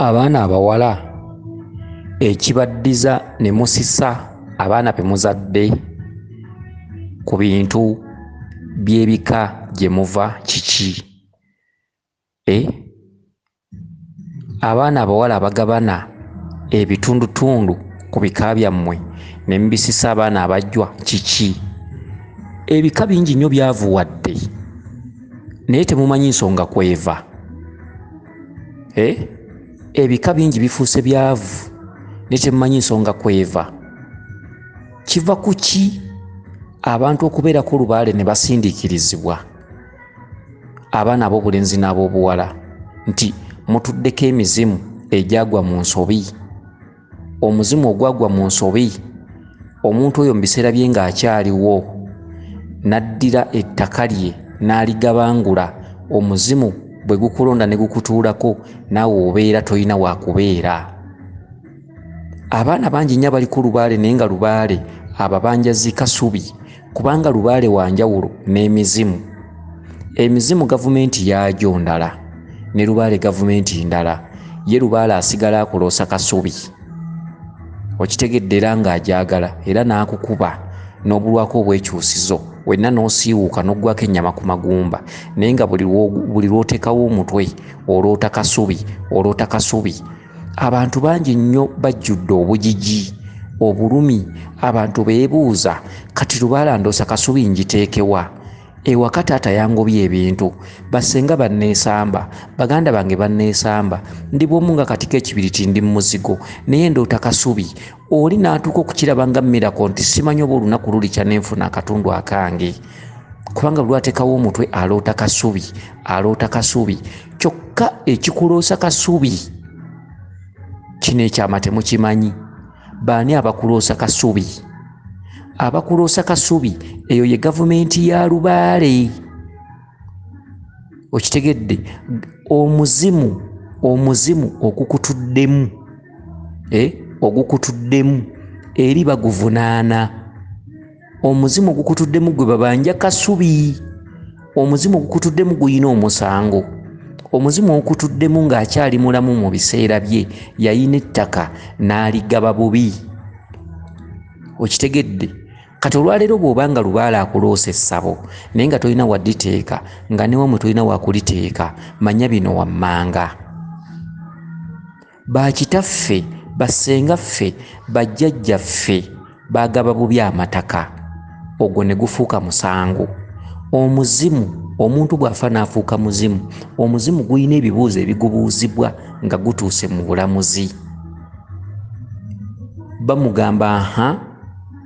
abaana abawala ekibaddiza ne musisa abaana be muzadde ku bintu by'ebika gye muva kiki e abaana abawala abagabana ebitundutundu ku bika byammwe ne mubisisa abaana abajjwa kiki ebika bingi nnyo byavuwadde naye temumanyi nsonga kweva eh? ebika bingi bifuuse byavu naye temumanyi nsonga kweva kiva ku ki abantu okubeerako olubaale ne basindiikirizibwa abaana ab'obulenzi n'ab'obuwala nti mutuddeko emizimu egyagwa mu nsobi omuzimu ogwagwa mu nsobi omuntu oyo mu biseera bye ng'akyaliwo n'addira ettaka lye n'aligabangula omuzimu bwe gukulonda ne gukutuulako naawe obeera tolina wa kubeera abaana bangi nnyo abali ku lubaale naye nga lubaale ababanja zikasubi kubanga lubaale wa njawulo n'emizimu emizimu gavumenti yaagyo ndala ne lubaale gavumenti ndala ye lubaale asigala akuloosa kasubi okitegedde era ng'agyagala era n'akukuba n'obulwako obwekyusizo wenna n'osiiwuuka n'oggwako ennyama ku magumba naye nga buli lw'oteekawo omutwe oloota kasubi oloota kasubi abantu bangi nnyo bajjudde obujiji obulumi abantu beebuuza kati lubaalandoosa kasubi ngiteekewa ewaka taata yangobye ebintu bassenga banneesamba baganda bange banneesamba ndi bwomu nga katiko ekibiriti ndi mu muzigo naye ndoota kasubi oli n'atuuka okukiraba nga miracle nti simanyi oba olunaku lulikya nenfuna akatundu akange kubanga lwatekawo omutwe aloota kasubi aloota kasubi kyokka ekikuloosa kasubi kino ekyama temukimanyi baani abakuloosa kasubi abakuloosa kasubi eyo ye gavumenti ya lubaale okitegedde omuzimu omuzimu ogukutuddemu eh, ogukutuddemu eri baguvunaana omuzimu ogukutuddemu gwe babanja kasubi omuzimu ogukutuddemu guyina omusango omuzimu ogukutuddemu ng'akyali mulamu mu biseera bye yayina ettaka n'aligaba bubi okitegedde kati olwaleero bw'oba nga lubaala akuloosa essabo naye nga tolina waditeeka nga newamwe tolina wakuliteeka manya bino wammanga bakitaffe bassenga ffe bajjajja ffe bagaba bubi amataka ogwo ne gufuuka musango omuzimu omuntu bw'afa n'afuuka muzimu omuzimu gulina ebibuuzo ebigubuuzibwa nga gutuuse mu bulamuzi bamugamba ha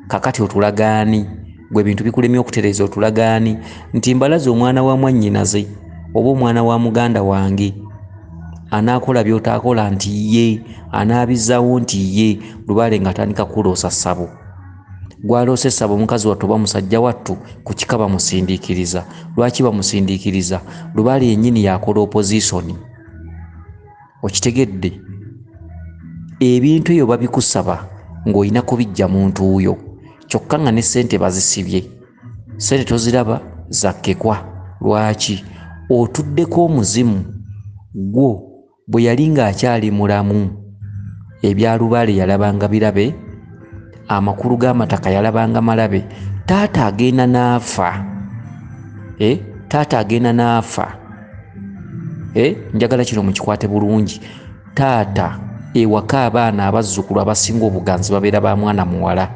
kakati otulagaani gwe bintu bikulemye okutereeza otulagaani nti mbalaze omwana wa mwannyinaze oba omwana wa muganda wange anaakola byotaakola nti ye anaabizaawo nti ye lubaale ng'atandika kuloosa ssabo gwaloosa essabo omukazi wattu oba musajja wattu ku kika bamusindiikiriza lwaki bamusindiikiriza lubaale yennyini yakola opozisoni okitegedde ebintu ebyo babikusaba ng'olina kubijja muntu wuyo kyokka nga ne ssente bazisibye ssente toziraba zakkekwa lwaki otuddeko omuzimu gwo bwe yali ng'akyali mulamu ebyalubale yalabanga birabe amakulu g'amataka yalabanga malabe taata agenda n'afa eh? taata agenda n'afa eh? njagala kino mukikwate bulungi taata ewaka abaana abazzukulu abasinga obuganzi babeera ba mwana muwala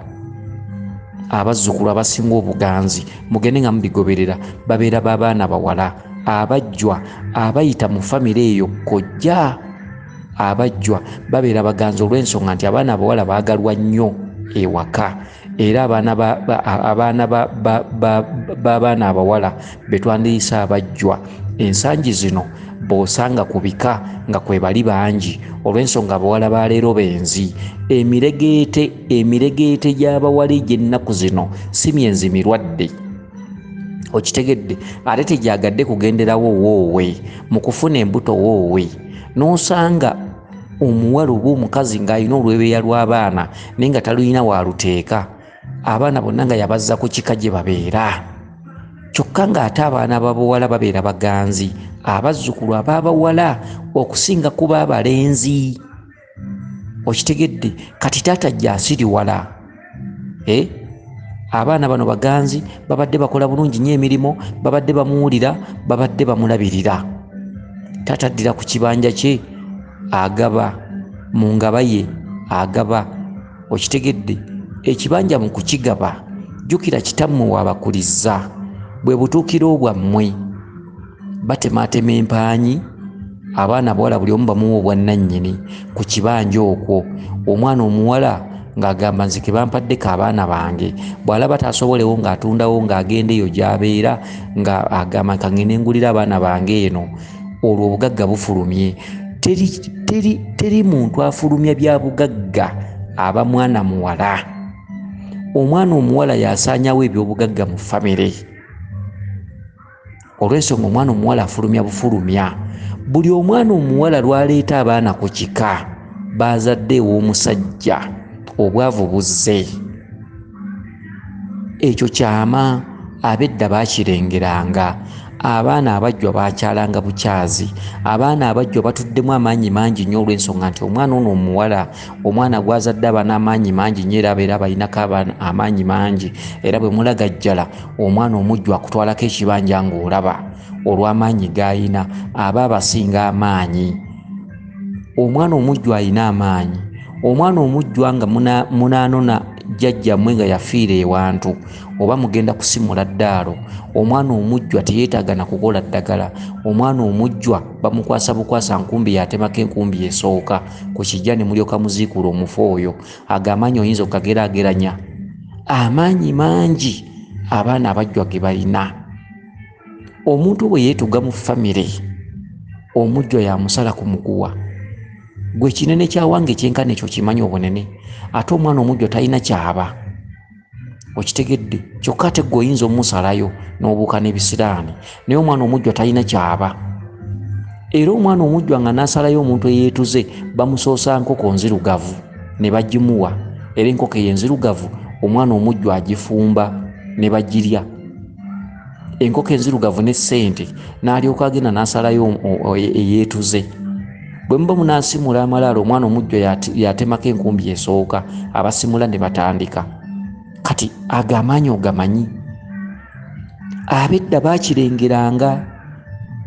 abazzukulu abasinga obuganzi mugende nga mubigoberera babeera b'abaana bawala abajjwa abayita mu famire eyo kojja abajjwa babeera baganzi olw'ensonga nti abaana abawala baagalwa nnyo ewaka era abaana b'abaana abawala be twandiyise abajjwa ensangi zino bw'osanga ku bika nga kwe bali bangi olw'ensonga abawala ba leero benzi emiregeete emiregeete gy'abawala egy'ennaku zino si myenzi mirwadde okitegedde ate tegyagadde kugenderawo woowe mu kufuna embuto woowe n'osanga omuwala oba omukazi ng'alina olwebeeya lw'abaana naye nga talulina waaluteeka abaana bonna nga yabazza ku kika gye babeera kyokka ng'ate abaana babawala babeera baganzi abazzukulu ababawala okusinga kuba abalenzi okitegedde kati taata jasiriwala eh? abaana bano baganzi babadde bakola bulungi nyo emirimu babadde bamuwulira babadde bamulabirira taata addira ku kibanja kye agaba mu ngaba ye agaba okitegedde ekibanja mu kukigaba jjukira kitammwe wabakulizza bwe butuukiro bwammwe batemaatema empaanyi abaana abawala buli omu bamuwa obwannannyini ku kibanja okwo omwana omuwala ng'agamba nze kebampaddeko abaana bange bw'alaba taasobolewo ng'atundawo ng'agenda eyo gy'abeera nga agamba kangende ngulira abaana bange eno olwo obugagga bufulumye teri, teri, teri muntu afulumya bya bugagga aba mwana muwala omwana omuwala yasaanyawo ebyobugagga mu famire olw'ensonga omwana omuwala afulumya bufulumya buli omwana omuwala lwaleeta abaana ku kika baazadde ew'omusajja obwavu buzze ekyo kyama abedda bakirengeranga abaana abajjwa bakyalanga bukyazi abaana abajjwa batuddemu amaanyi mangi nnyo olw'ensonga nti omwana ono omuwala omwana gwazadde aba n'amaanyi mangi nyo era abeera abalinako amaanyi mangi era bwe mulagajjala omwana omujju akutwalako ekibanja ng'olaba olw'amaanyi g'alina aba abasinga amaanyi omwana omujju alina amaanyi omwana omujjwa nga munaanona jjajjamwe nga yafiira ewantu oba mugenda kusimula ddaalo omwana omujjwa teyeetaaga na kukola ddagala omwana omujjwa bamukwasa bukwasa nkumbi yatemako enkumbi esooka ku kijja ne mulyoka muziikuula omufu oyo ago amaanyi oyinza okukageraageranya amaanyi mangi abaana abajjwa ge balina omuntu bwe yeetuga mu famire omujjwa yamusala ku muguwa gwe kinene kyawange kyenkana ekyo kimanyi obunene ate omwana omujjwa talina kyaba okitegedde kyokka ate gwe oyinza omusalayo n'obuuka n'ebisiraani naye omwana omujjwa talina kyaba era omwana omujjwa nga n'asalayo omuntu eyeetuze bamusoosa nkoko nzirugavu ne bagimuwa era enkoko eyo enzirugavu omwana omujjwa agifumba ne bagirya enkoko enzirugavu ne ssente n'alyoka agenda n'asalayo eyeetuze bwe muba munaasimula amalaalo omwana omujjo yatemako enkumbi esooka abasimula ne batandika kati ago amaanyi ogamanyi abedda baakirengeranga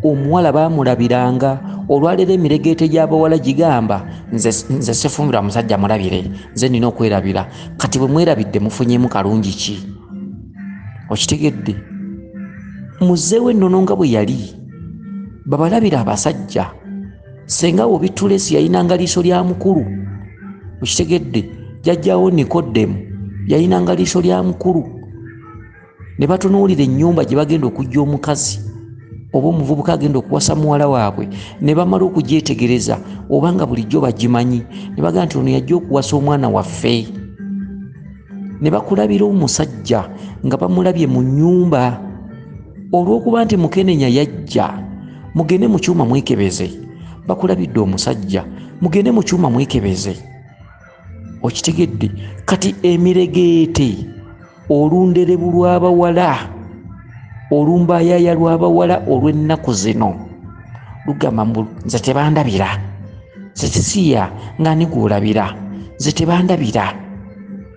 omuwala baamulabiranga olwaleero emiregeete gy'abawala gigamba nze sifumbirwa musajja mulabire nze nina okwerabira kati bwe mwerabidde mufunyemu kalungi ki okitegedde muzeewo ennono nga bwe yali babalabira abasajja senga wo bitulesi yalinanga liiso lya mukulu okitegedde jajjawo nikodemu yalinanga liiso lya mukulu ne batunuulira ennyumba gye bagenda okujja omukazi oba omuvubuka agenda okuwasa muwala waabwe ne bamala okugyetegereza oba nga bulijjo bagimanyi ne bagamba nti ono yajja okuwasa omwana waffe ne bakulabira omusajja nga bamulabye mu nnyumba olw'okuba nti mukenenya yajja mugende mu kyuma mwekebeze bakulabidde omusajja mugende mu kyuma mwekebeze okitegedde kati emiregeete olunderebu lw'abawala olumbayaaya lw'abawala olw'ennaku zino lugamba mbu nze tebandabira nze sisiya nga ni gwolabira nze tebandabira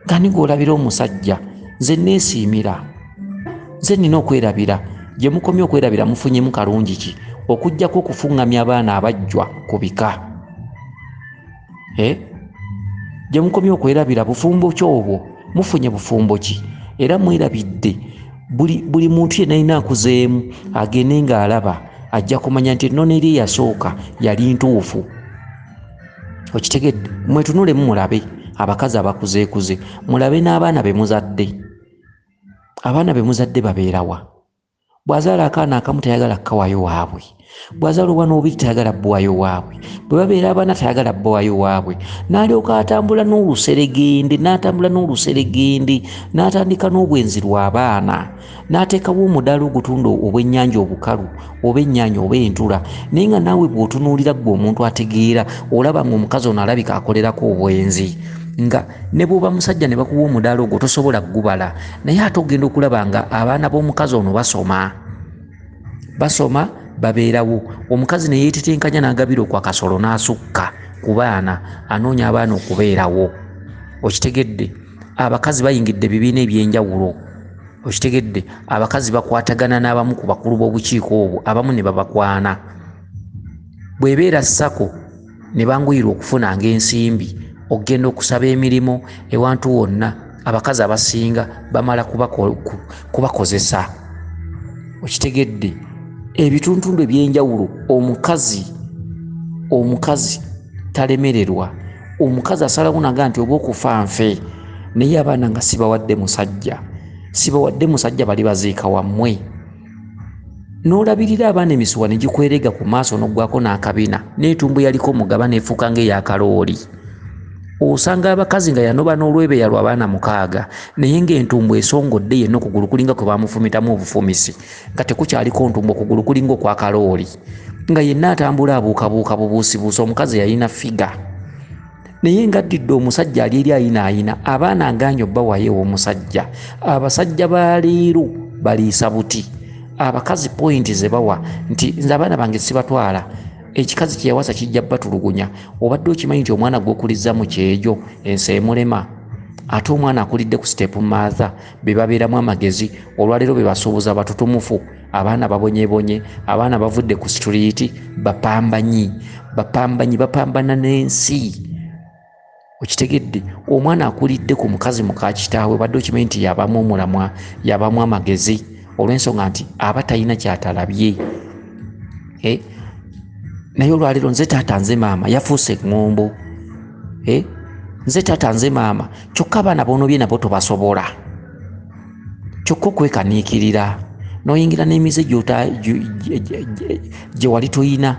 nga ni gwolabira omusajja nze neesiimira nze nina okwerabira gye mukomye okwerabira mufunyemu kalungi ki okujjako okufuŋŋamya abaana abajjwa ku bika eh? gye mukomye okwerabira bufumbo ki obwo mufunye bufumbo ki era mwerabidde buli, buli muntu yenna alina akuzeemu agende ng'alaba ajja kumanya nti ennono eri eyasooka yali ntuufu okitegedde mwetunulemu mulabe abakazi abakuzeekuze mulabe n'abaana be muzadde abaana be muzadde babeerawa bw'azaala akaana akamu tayagala kukawayo waabwe bwazala obwana obubiri tayagala bwayo waabwe bwe babeera abaana tayagala bwayo waabwe n'alyoka atambula n'oluseregende n'atambula n'oluseregende n'atandika n'obwenzi lw'abaana n'ateekawo omudaala ogutunda obwennyanja obukalu oba ennyanya oba entula naye nga naawe bw'otunuulira ggwe omuntu ategeera olaba nga omukazi ono alabika akolerako obwenzi nga ne bw'oba musajja ne bakuwa omudaala ogwo tosobola kugubala naye ate ogenda okulaba nga abaana b'omukazi ono basoma basoma babeerawo omukazi neyetetenkanya nagabira okwa kasolo nasukka ku baana anoonya abaana okubeerawo okitegedde abakazi bayingidde ebibiina ebyenjawulo okitegedde abakazi bakwatagana n'abamu ku bakulu b'obukiiko obwo abamu ne babakwana bwebeera sako ne banguyirwa okufunanga ensimbi okugenda okusaba emirimu ewantu wonna abakazi abasinga bamala kubakozesa okitegedde ebituntundu ebyenjawulo omukazi omukazi talemererwa omukazi asalawo naga nti oba okufa nfe naye abaana nga sibawadde musajja sibawadde musajja bali baziika wammwe n'olabirira abaana emisuwa ne gikwerega ku maaso n'oggwako n'akabina n'etumbu yaliko mugaba n'efuuka ng'eyakalooli osanga abakazi nga yanoba n'olwebeya lwa baana mukaaga naye ng'entumbu esongodde yenna okugulu kulinga kwe bamufumitamu obufumisi nga tekukyaliko ntumbu okugulu kulinga okwakalooli nga yenna atambula abuukabuuka bubuusibuusi omukazi yalina figa naye nga addidde omusajja ali eri ayinaayina abaana agaanyi obbawayo ew'omusajja abasajja ba leero baliisa buti abakazi pointi ze bawa nti nze abaana bange sibatwala ekikazi kyeyawasa kijja batulugunya obadde okimanyi nti omwana gwokulizza mu kyejo ensi emulema ate omwana akulidde ku sitepu maatha be babeeramu amagezi olwaleero be basuubuza batutumufu abaana babonyebonye abaana bavudde ku situliiti bapambanyi bapambanyi bapambana n'ensi okitegedde omwana akulidde ku mukazi mukakitaawe badde okimanyi nti yabamu omulamwa yabamu amagezi olw'ensonga nti aba talina kyatalabye eh? naye olwaleero nze taata nze maama yafuuse eŋŋombo eh? nze taata nze maama kyokka abaana boonobye nabo tobasobola kyokka okwekaniikirira n'oyingira n'emize gye wali toyina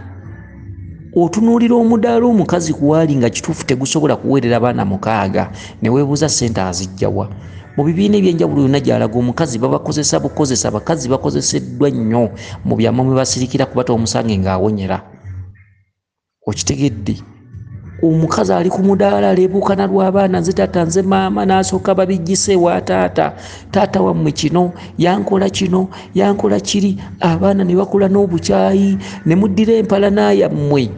otunuulira omudaala omukazi kuwaali nga kituufu tegusobola kuweerera baana mukaaga ne weebuuza ssente azijjawa mu bibiina ebyenjawulo yonna gyalaga omukazi babakozesa bukozesa abakazi bakozeseddwa nnyo mu byama mwe basirikira kuba tomusange ng'awonyera okitegedde omukazi ali ku mudaala aleebuukana lw'abaana nze taata nze maama n'asooka babijjise wa taata taata wammwe kino yankola kino yankola kiri abaana ne bakula n'obukyayi ne muddira empalana yammwe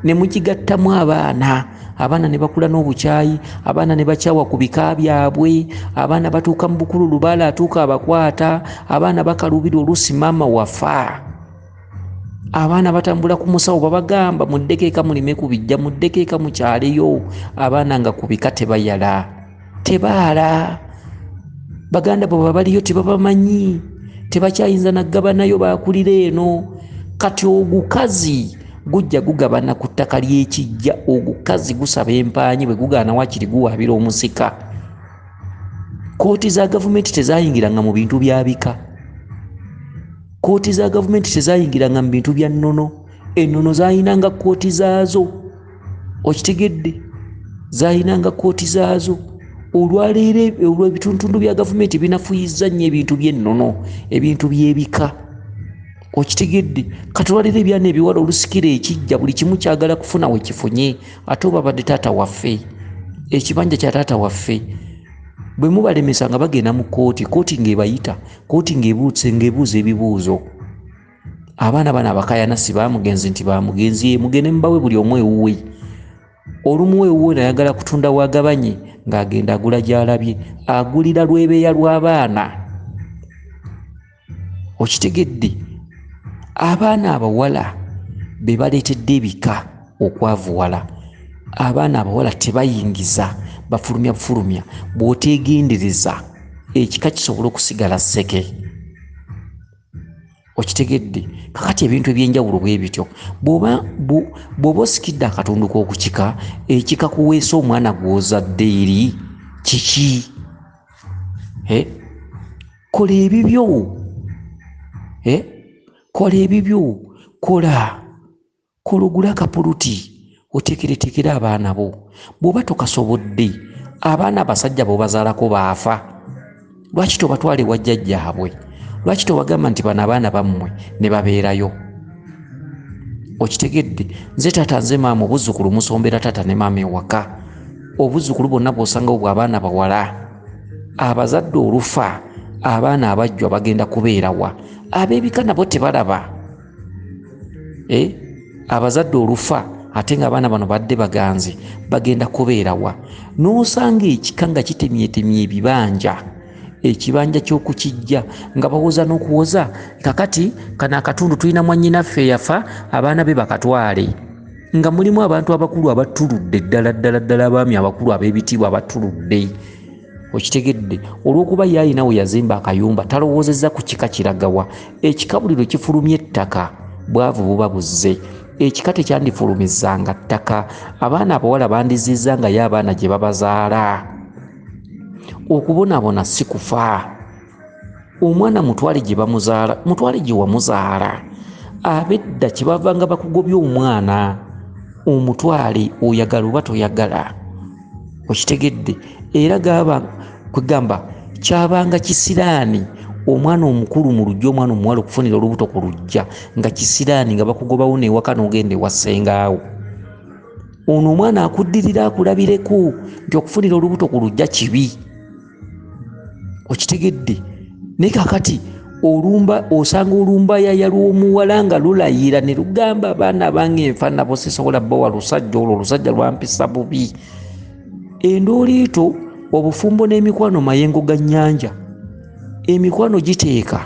ne mugigattamu abaana abaana ne bakula n'obukyayi abaana ne bakyawa ku bika byabwe abaana batuuka mu bukulu lubaala atuuka abakwata abaana bakaluubirwa oluusi maama wafa abaana batambula ku musawo babagamba muddeko eka mulime ku bijja muddeko eka mukyaleyo abaana nga ku bika tebayala tebaala baganda bwe babaliyo tebabamanyi tebakyayinza nagabanayo bakulira eno kati ogukazi gujja gugabana ku ttaka ly'ekijja ogukazi gusaba empaanyi bwe gugaana wakiri guwaabira omusika kkooti za gavumenti tezayingiranga mu bintu byabika kkooti za gavumenti tezayingiranga mu bintu bya nnono ennono zayinanga kkooti zaazo okitegedde zayinanga kkooti zaazo olwaleero olwo ebituntundu bya gavumenti binafuyizza nnyo ebintu by'ennono ebintu by'ebika okitegedde katulwalira ebyana ebiwala olusikira ekijja buli kimu kyagala kufuna wekifunye ate obabadde taata waffe ekibanja kya taata waffe bwe mubalemesa nga bagenda mu kkooti kkooti ng'ebayita kooti ng'ebuutse ng'ebuuza ebibuuzo abaana bano abakayana si bamugenzi nti bamugenzi ye mugende mubawe buli omu ewuwe olumu ewuwe nayagala kutunda wagabanye ng'agenda agula gyalabye agulira lwebeeya lw'abaana okitegedde abaana abawala be baleetedde ebika okwavuwala abaana abawala tebayingiza bafulumya bufulumya bwotegendereza ekika kisobola okusigala seke okitegedde kakati ebintu ebyenjawulo bwe bityo bwoba bwoba osikidde akatundu k'okukika ekika kuweesa omwana gw'ozadde eri kiki kola ebibyo kola ebibyo kola Kologula kapuluti otekeretekere abaana bo bwoba tokasobodde abaana abasajja bobazalako baafa lwaki tobatwala ewa jjajjaabwe lwaki tobagamba nti bano abaana bammwe ne babeerayo okitegedde nze taata nze maama obuzzukulu musombera taata ne maama ewaka obuzzukulu bonna bwosangawo bwa abaana bawala abazadde olufa abaana abajjwa bagenda kubeerawa abebika nabo tebalaba eh? abazadde olufa ate nga abaana bano badde baganzi bagenda kubeerawa n'osanga ekika nga kitemyetemye ebibanja ekibanja ky'okukijja nga bawoza n'okuwoza kakati kano akatundu tulina mwannyinaffe eyafa abaana be bakatwale nga mulimu abantu abakulu abatuludde ddala ddala ddala abaami abakulu ab'ebitiibwa abatuludde okitegedde olwokuba ye alina we yazimba akayumba talowoozezza ku kika kiragawa ekika buli lwe kifulumya ettaka bwavu buba buzze ekika tekyandifulumizanga ttaka abaana abawala bandizizza nga ye abaana gye babazaala okubonabona si kufa omwana mutwale gye bamuzaala mutwale gye wamuzaala abedda kyebavanga bakugobya omwana omutwale oyagala oba toyagala okitegedde era gaba kwegamba kyabanga kisiraani omwana omukulu mu lujja omwana omuwala okufunira olubuto ku lujja nga kisiraani nga bakugobawo newaka nogenda ewassengaawo ono omwana akuddirira akulabireko nti okufunira olubuto ku lujja kibi okitegedde naye kakati olumba osanga olumba yaya lwomuwala nga lulayira ne lugamba abaana abange nfa nabo sisobola bawa lusajja olwo olusajja lwampisa bubi endooliito obufumbo n'emikwano mayengo ga nnyanja emikwano giteeka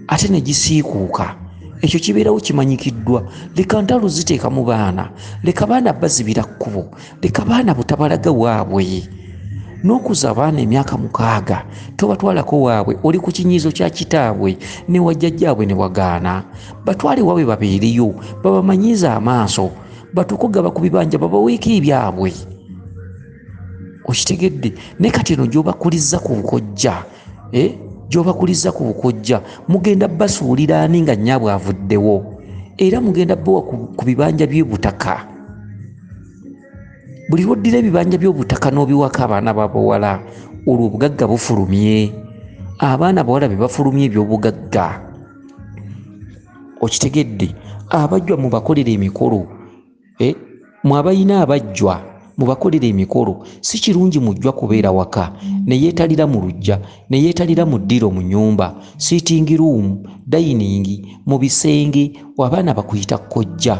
ate ne gisiikuuka ekyo kibeerawo kimanyikiddwa leka ntalo ziteeka mu baana leka baana bazibira kkubo leka baana butabalaga waabwe n'okuza abaana emyaka mukaaga tobatwalako waabwe oli ku kinyiizo kya kitaabwe ne wajjajjaabwe ne wagaana batwale waabwe babeereyo babamanyiize amaaso batukugaba ku bibanja babaweeko ebyabwe okitegedde ne kati eno gyobakulizza ku bukojja eh? gyobakulizza ku bukojja mugenda basuulira ani nga nnyabwe avuddewo era mugenda bawa ku bibanja by'ebutaka buli lwoddira ebibanja by'obutaka n'obiwako abaana babawala olwo obugagga bufulumye abaana bawala be bafulumye ebyobugagga okitegedde abajwa mubakolera emikolo eh, mwe abalina abajjwa mubakolera emikolo si kirungi mujjwa kubeera waka neyeetalira mu lujja ne yeetalira mu ddiro mu nnyumba, sitting room, dayiningi, mu bisenge, abaana bakuyita kkojja.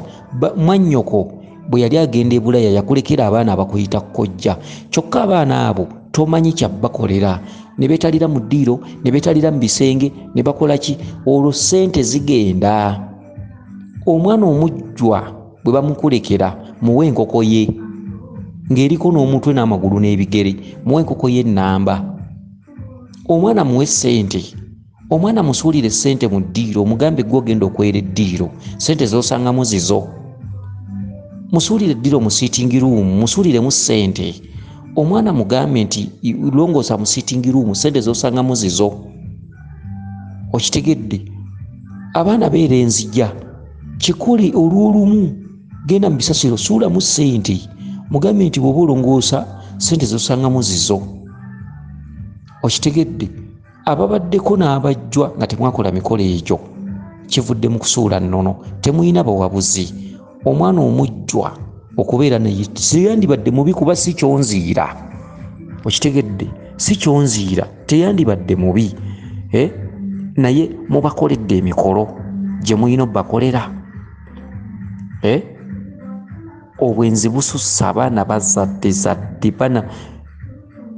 Mwannyoko bwe yali agenda e Bulaya yakulekera abaana abakuyita kkojja. Kyokka abaana abo tomanyi kya bakolera. Ne beetalira mu ddiiro, ne beetalira mu bisenge, ne bakola ki? Olwo ssente zigenda. Omwana omujjwa. bwe bamukulekera muwe enkoko ye ng'eriko n'omutwe n'amagulu n'ebigere muwe enkoko ye nnamba omwana muwe ssente omwana musuulire ssente mu ddiiro omugambe gwe ogenda okwera eddiiro ssente z'osangamu zizo musuulire eddiiro mu sitingi ruumu musuuliremu ssente omwana mugambe nti longoosa mu sitingi ruumu ssente z'osangamu zizo okitegedde abaana beera enzija kikole olw'olumu genda mu bisasiro suulamu ssente mugambe nti bw'oba olongoosa ssente zosangamu zizo okitegedde ababaddeko n'abajjwa nga temwakola mikolo egyo kivudde mu kusuula nnono temulina bawabuzi omwana omujjwa okubeera naye seyandibadde mubi kuba si kyonziira okitegedde si kyonziira teyandibadde mubi eh? naye mubakoledde emikolo gye mulina obakolera eh? obwenzi bususse abaana bazadde zadde bana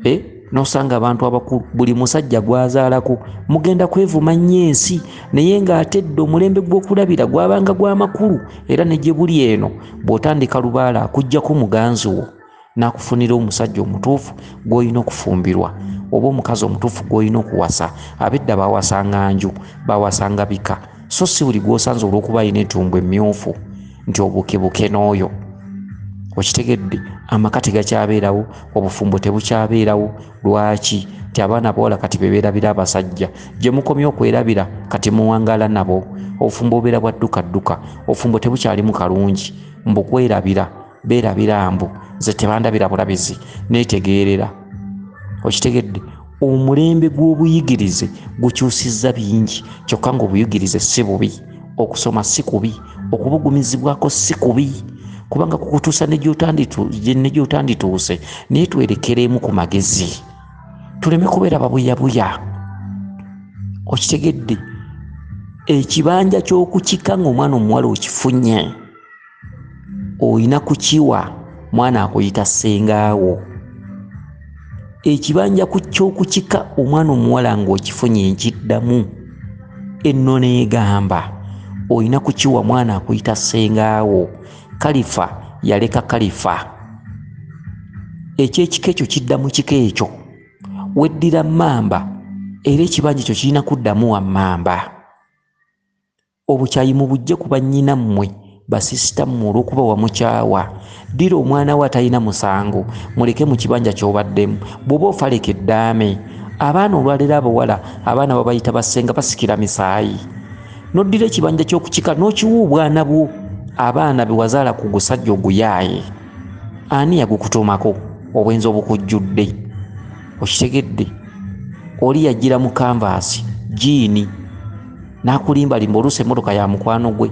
eh? nosanga abantu abakulu buli musajja gwazaalako mugenda kwevuma nnyo ensi naye ng'ate dde omulembe gw'okulabira gwabanga gw'amakulu era ne gye buli eno bw'otandika lubaala akugjako muganzi wo nakufunira omusajja omutuufu gwolina okufumbirwa oba omukazi omutuufu gwolina okuwasa abedda bawasanga nju bawasanga bika so si buli gwosanze olwokuba alina etumbu emyufu nti obukebuke n'oyo okitegedde amaka tegakyabeerawo obufumbo tebukyabeerawo lwaki nti abaana bawala kati beberabira abasajja gyemukomye okwerabira kati muwangala nabo obufumbo obeera bwaddukadduka obufumbo tebukyalimu kalungi mbukwerabira beerabira mbu nze tebandabira bulabizi neetegeerera okitegedde omulembe gw'obuyigirize gukyusizza bingi kyokka ngaobuyigirize si bubi okusoma si kubi okubugumizibwako si kubi kubanga kukutuusa negyotandituuse naye twerekereemu ku magezi tuleme kubeera babuyabuya okitegedde ekibanja ky'okukika ngaomwana omuwala okifunye olina kukiwa mwana akuyita ssengaawo ekibanja ku ky'okukika omwana omuwala ng'okifunye nkiddamu enno neegamba olina kukiwa mwana akuyita ssengaawo kalifa yaleka kalifa ekyekika ekyo kidda mu kika ekyo weddira mamba era ekibanja ekyo kirina kuddamu wa mamba Obukyayi mubujje ku bannyina mmwe, basisita mmwe olw'okuba wamukyawa. Ddira omwana wo atalina musango muleke mu kibanja ky'obaddemu. Bw'oba ofa leka eddaame. Abaana olwaleero abawala abaana babayita bassenga basikira misaayi. N'oddira ekibanja ky'oku kika n'okiwa obwana bwo abaana be wazaala ku gusajja oguyaaye. Ani yagukutuumako? Obwenzi obukujjudde. Okitegedde? Oli yajjira mu kanvaasi, jjiini. nakulimbalimba oluusi emotoka ya mukwano gwe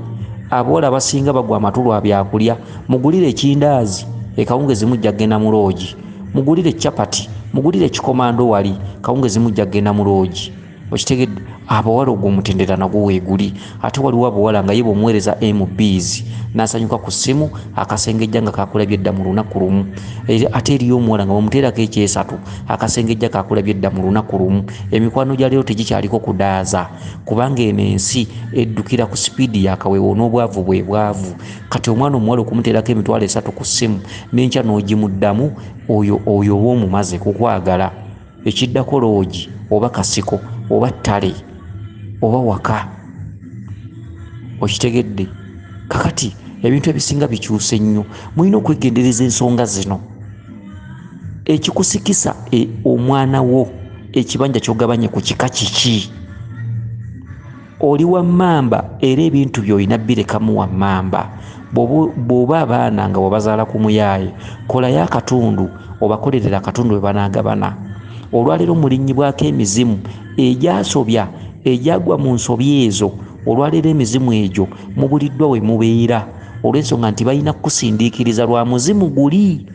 aboola abasinga bagwa amatu lwa byakulya mugulire ekindaazi ekawungezi mujja kugenda mu loogi mugulire capati mugulire ekikomando wali kawungezi mujja kugenda mu loogi okitegedde abawala ogwo omutendera nagwo weeguli ate waliwo abawala nga ye bwomuweereza mbs nasanyuka ku ssimu akasengejja nga kakulabye edda mu lunaku lumu ate eriyo omuwala nga bamuteerako ekyesatu akasengejja kakulabye dda mu lunaku lumu emikwano gya leero tegikyaliko kudaaza kubanga eno ensi eddukira ku sipiidi yakaweewo n'obwavu bwe bwavu kati omwana omuwala okumuteerako emitwalo esatu ku ssimu n'enkya n'ogimuddamu oyo oyo oba omumaze kukwagala ekiddako loogi oba kasiko oba ttale oba waka okitegedde kakati ebintu ebisinga bikyuse nnyo mulina okwegendereza ensonga zino ekikusikisa e, omwana wo ekibanja kyogabanye ku kika kiki oli wammamba era ebintu byolina birekamu wammamba bw'oba abaana nga wabazaala ku muyaaye kolayo akatundu obakolerera akatundu bwe banaagabana olwaleero mulinnyibwako emizimu egyasobya egyagwa mu nsobi ezo olwaleero emizimu egyo mubuliddwa we mubeera olw'ensonga nti balina kukusindiikiriza lwa muzimu guli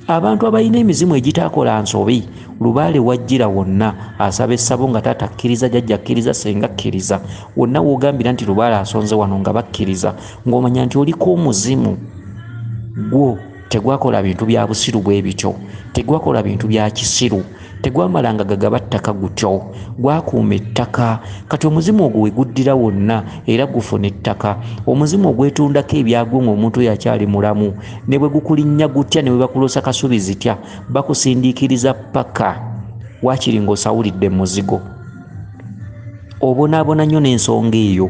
abantu abalina emizimu egitakola nsobi lubaale wajjira wonna asaba essabo nga taata akkiriza jajja akkiriza senga akkiriza wonna wogambira nti lubaale asonze wano nga bakkiriza ng'omanya nti oliko omuzimu gwo tegwakola bintu bya busiru bwe bityo tegwakola bintu bya kisiru tegwamalanga gagaba ttaka gutyo gwakuuma ettaka kati omuzimu ogwo weguddira wonna era gufuna ettaka omuzimu ogwetundako ebyagwo ng'omuntu oyo akyali mulamu ne bwe gukulinnya gutya ne bwe bakuloosa kasubi zitya bakusindiikiriza paka waakiri ng'osawulidde muzigo obonaabona nnyo n'ensonga eyo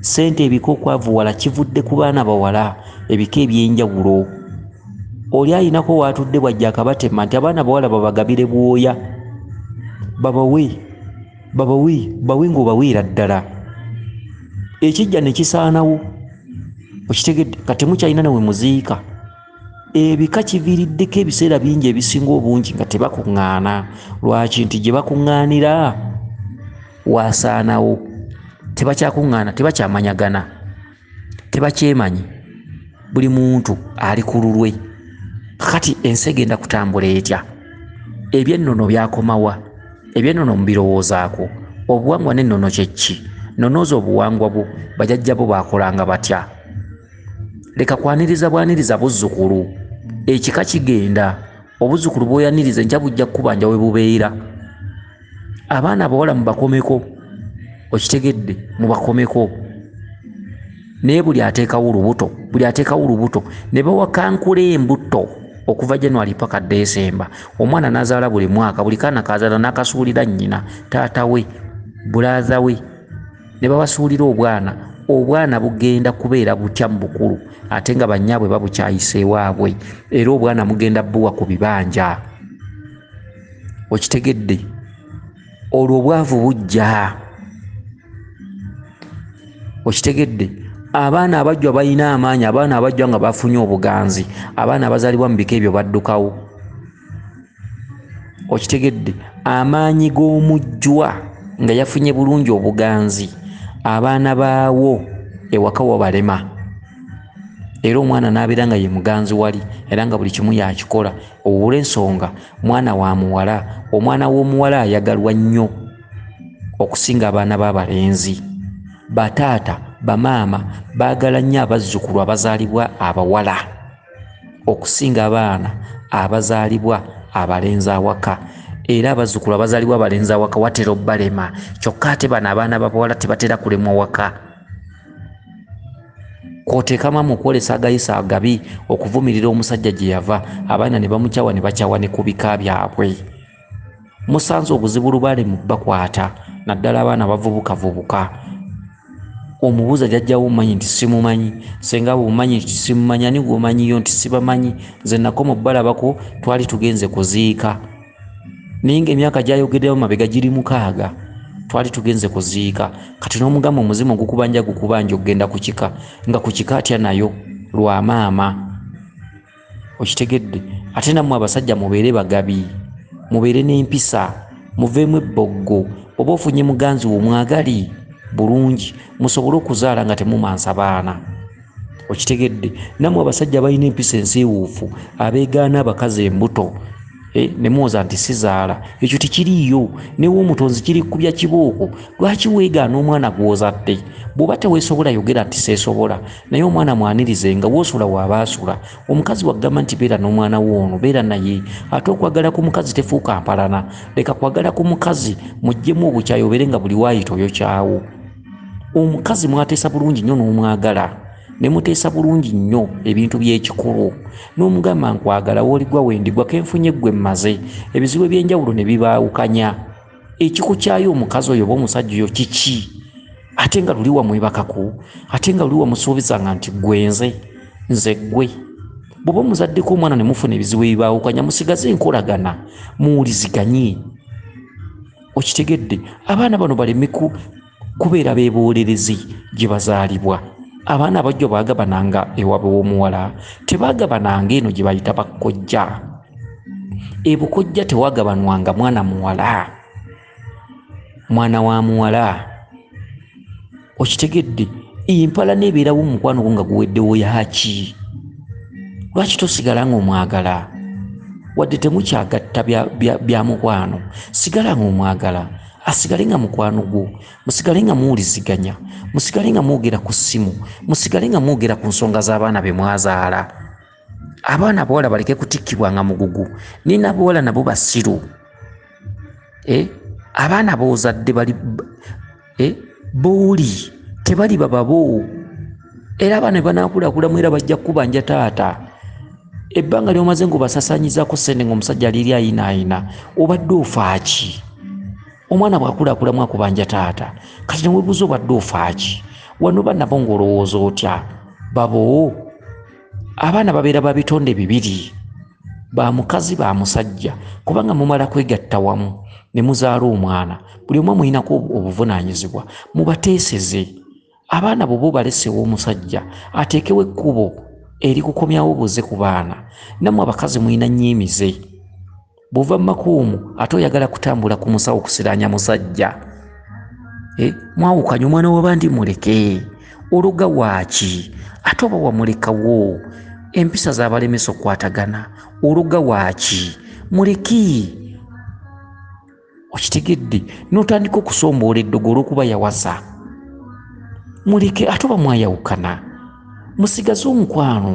ssente ebika okwavuwala kivudde ku baana bawala ebika ebyenjawulo oli alinako waatudde bwajja akabatema nti abaana bawala babagabire bwoya babawe babawe bawe ngaobaweera ddala ekijja nekisaanawo okitegedde katemukyalina nawe muziika ebika kiviiriddeko ebiseera bingi ebisinga obungi nga tebakuŋŋaana lwaki nti gye bakuŋŋaanira waasaanawo tebakyakuŋŋaana tebakyamanyagana tebakyemanyi buli muntu ali ku lulwe kakati ensi egenda kutambula etya ebyennono byakomawa ebyennono mubirowoozaako obuwangwa n'ennono kyekki nonooza obuwangwa bwo bajajja bo baakolanga batya leka kwaniriza bwaniriza buzzukulu ekika kigenda obuzzukulu bwoyaniriza enkya bujja kukubanja we bubeera abaana abawala mubakomeko okitegedde mubakomeko naye buli ateekawo olubuto buli ateekawo olubuto ne bawakankula embuto okuva january paka desemba omwana nazaala buli mwaka buli kaana kazaala nakasuulira nnyina taata we bulaadha we ne babasuulira obwana obwana bugenda kubeera butya mu bukulu ate nga bannyaabwe babukyayisa ewaabwe era obwana mugenda buwa ku bibanja okitegedde olwo obwavu bujja okitegedde abaana abajjwa balina amaanyi abaana abajjwa nga bafunye obuganzi abaana abazalibwa mu bika ebyo baddukawo okitegedde amaanyi g'omujjwa nga yafunye bulungi obuganzi abaana baawo ewaka wabalema era omwana n'abeera nga ye muganzi wali era nga buli kimu yakikola owula ensonga mwana wa muwala omwana w'omuwala ayagalwa nnyo okusinga abaana b'abalenzi bataata bamaama baagala nnyo abazzukulu abazaalibwa abawala okusinga abaana abazaalibwa abalenzi awaka era abazzukulu abazaalibwa abalenzi awaka watera obalema kyokka ate bano abaana babawala tebatera kulemwa waka kwoteekamu amu okwolesa agayisa agabi okuvumirira omusajja gye yava abaana ne bamukyawa ne bakyawa ne ku bika byabwe musanze obuzibu lubaale mu bakwata naddala abaana bavubukavubuka omubuuza jajjawo omumanyi nti simumanyi senga bwomumanyi nti simumanyi ani gwomanyiyo nti sibamanyi nze nako mu balabako twali tugenze kuziika naye nga emyaka gyayogeddemu mabega giri mukaaga twali tugenze kuziika kati n'omugamba omuzimu gukubanja gukubanja okugenda ku kika nga ku kika atya nayo lwa maama okitegedde ate nammwe abasajja mubeere bagabi mubeere n'empisa muveemu ebboggo oba ofunye muganzi wo mwagali bulungi musobole okuzaala nga temumansa baana okitegedde nammwe abasajja balina empisa ensiiwuufu abeegaana abakazi embuto Eh, nemuwoza nti sizaala ekyo tekiriiyo newe omutonzi kiri kubya kibooko lwaki weegaana omwana gwozadde bw'oba teweesobola yogera nti seesobola naye omwana mwanirize nga wosula waaba asula omukazi wagamba nti beera n'omwana wo ono beera naye ate okwagala ku mukazi tefuuka mpalana leka kwagala ku mukazi muggyemu obukyayi obeere nga buli waayita oyo kyawo omukazi mwateesa bulungi nnyo n'omwagala ne muteesa bulungi nnyo ebintu by'ekikulu n'omugamba nkwagala wooligwa wendigwa kenfunye ggwe mmaze ebizibu eby'enjawulo ne bibaawukanya ekikukyayo omukazi oyo oba omusajja oyo kiki ate nga luli wamwebakako ate nga luli wamusuubizanga nti gwenze nze gwe bwoba omuzaddeko omwana nemufuna ebizibu ebibaawukanya musigaze enkolagana muwuliziganye okitegedde abaana bano baleme kubeera bebuulirizi gye bazaalibwa abaana abajjo baagabananga ewaabwe w'omuwala tebaagabananga eno gye bayita bakkojja ebukojja tewagabanwanga mwana muwala mwana wa muwala okitegedde empala neebeerawo omukwano gwo nga guweddewo yaki lwaki tosigala nga omwagala wadde temukyagatta bya mukwano sigala nga omwagala asigale nga mukwano gwo musigale nga muwuliziganya musigale nga mwogera ku ssimu musigale nga mwogera ku nsonga z'abaana be mwazaala abaana abawala baleke kutikkibwa nga mugugu naye nabawala nabo basiru eh? abaana boozadde bali eh? booli tebaliba baboo era abaana banakulakulamu era bajja kukubanja taata ebbanga lyomaze ngaobasasanyizako sente ngaomusajja aliri ayinaayina obadde ofaaki omwana bwakulakulamu akubanja taata kati newebuuza obadde ofaaki wano banabo ngaolowooza otya babo abaana babeera babitonde bibiri ba mukazi ba musajja kubanga mumala kwegatta wamu ne muzaala omwana buli omu amulinako obuvunaanyizibwa mubateeseze abaana bwoba obalesewo omusajja ateekewo ekkubo erikukomyawo buze ku baana nammwe abakazi mulina nnyo emize bwova mu makuumu ate oyagala kutambula ku musawo kusiraanya musajja eh, mwawukanye omwana wabandi muleke oluga waaki ate oba wamulekawo empisa zabalemesa okukwatagana oluga waaki muleki okitegedde n'otandika okusomboola eddogo olw'okuba yawaza muleke ate oba mwayawukana musigaze omukwano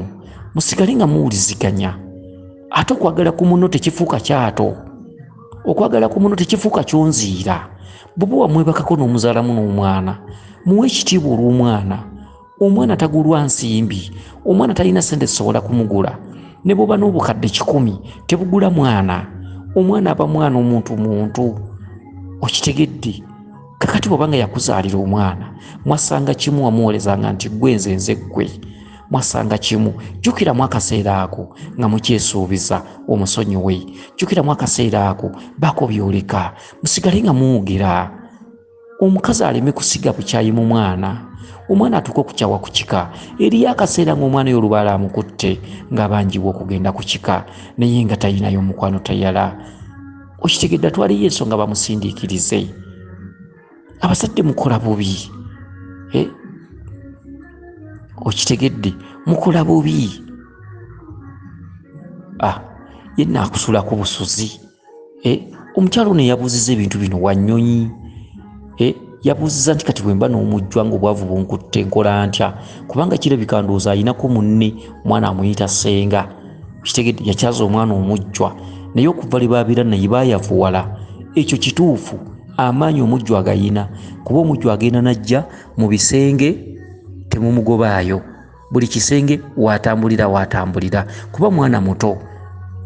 musigale nga muwuliziganya ate okwagala ku muno tekifuuka kyato okwagala ku muno tekifuuka kyonziira buba wamwebakako n'omuzalamu n'omwana muwe ekitiibwa olw'omwana omwana tagulwa nsimbi omwana talina sente zisobola kumugula ne bwoba n'obukadde kikumi tebugula mwana omwana aba mwana omuntu muntu okitegedde kakati bwaba nga yakuzaalira omwana mwasanga kimu wamuwolezanga nti gwe nze nze ggwe mwasanga kimu jjukiramu akaseera ako nga mukyesuubiza omusonyiwe jjukiramu akaseera ako bako byoleka musigale nga muwugira omukazi aleme kusiga bukyayi mu mwana omwana atuuka okukyawa ku kika eriyo akaseera ng'omwana yo olubaala amukutte ng'abanjibwa okugenda ku kika naye nga talinayo omukwano tayala okitegedde atwaliyo ensonga bamusindiikirize abazadde mukola bubi eh? okitegedde mukola bubi ah, ye naakusula ku busuzi eh, omukyalo ono eyabuuziza ebintu bino wanyonyi eh, yabuuziza nti kati bwemba n'omujjwa nga obwavu bunkutte nkola ntya kubanga kirabika ndowooza ayinako munne omwana amuyita senga kitegede yakyaza omwana omujjwa naye okuva lye babeera naye bayavuwala ekyo kituufu amaanyi omujjwa agayina kuba omujjwa agenda najja mu bisenge temumugobaayo buli kisenge watambulira watambulira kuba mwana muto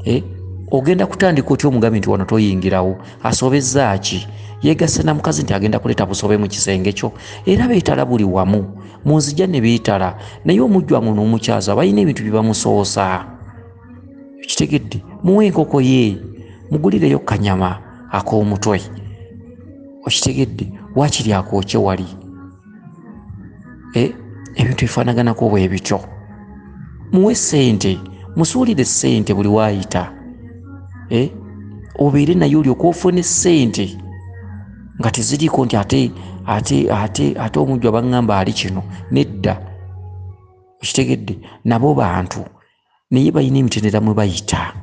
eh? ogenda kutandika otya omugambi nti wano toyingirawo asobezaaki yegase na mukazi nti agenda kuleeta busobe mu kisenge kyo era beetala buli wamu mu nzija ne beetala naye omujjwangu n'omukyaza balina ebintu bye bamusoosa kitegedde muwe enkoko ye mugulireyo kanyama ak'omutwe okitegedde wakiri akookye wali eh, ebintu ebifaanaganako bwe bityo muwe ssente musuulire ssente buli waayita eh, obeere naye olyoka ofune ssente nga teziriiko nti ate ate ate ate omujju abanŋamba ali kino nedda okitegedde nabo bantu naye balina emitendera mwe bayita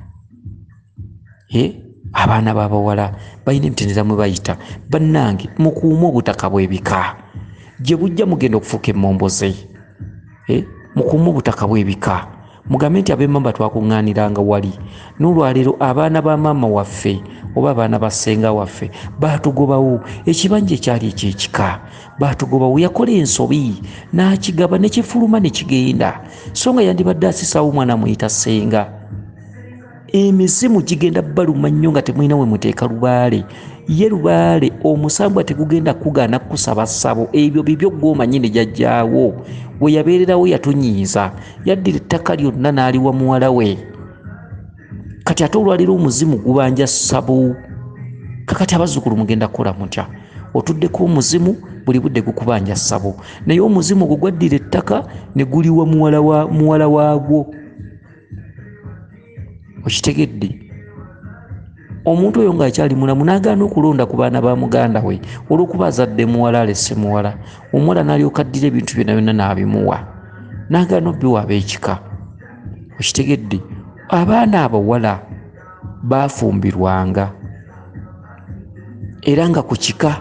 abaana babawala balina emitendera mwe bayita bannange mukuume obutaka bwebika gye bujja mugenda okufuuka emomboze mukuume obutaka bwebika mugambe nti abemamba twakuŋŋaaniranga wali n'olwaleero abaana ba maama waffe oba abaana ba ssenga waffe baatugobawo ekibanja ekyali ekyekika baatugoba we yakola ensobi n'akigaba ne kifuluma ne kigenda so nga yandibadde asisaawo omwana amuyita ssenga emizimu gigenda baluma nnyo nga temulina we muteeka lubaale ye lubaale omusambwa tegugenda kugaana kukusaba ssabo ebyo bibyo gwomanyi ne jajjaawo we yabeererawo yatunyiiza yaddira ettaka lyonna n'aliwa muwala we kati ate olwaliro omuzimu gubanja sabu kakati abazukulu mugenda kukola mutya otuddeko omuzimu buli budde gukubanja sabo naye omuzimu ogwo gwaddira ettaka ne guliwa muwala waagwo okitegedde omuntu oyo ngaakyali mulamu nagaana okulonda ku baana ba muganda we olwokuba azadde muwala alese muwala omuwala nalyokaddira ebintu byona byonna naabimuwa nagaana obiwa abekika okitegedde abaana abawala baafumbirwanga era nga ku kika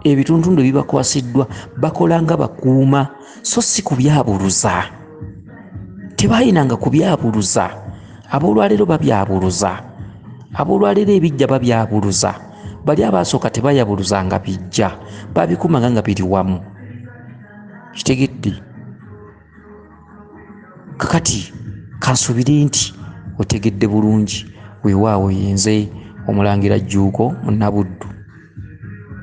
ebituntundu ebibakwasiddwa bakola nga bakuuma so si kubyabuluza tebaayinanga kubyabuluza ab'olwaleero babyabuluza ab'olwaleero ebijja babyabuluza bali abaasooka tebayabuluza nga bijja babikumanga nga biri wamu kitegedde kakati kansubire nti otegedde bulungi weewaawo yenze omulangira jjuuko munabuddu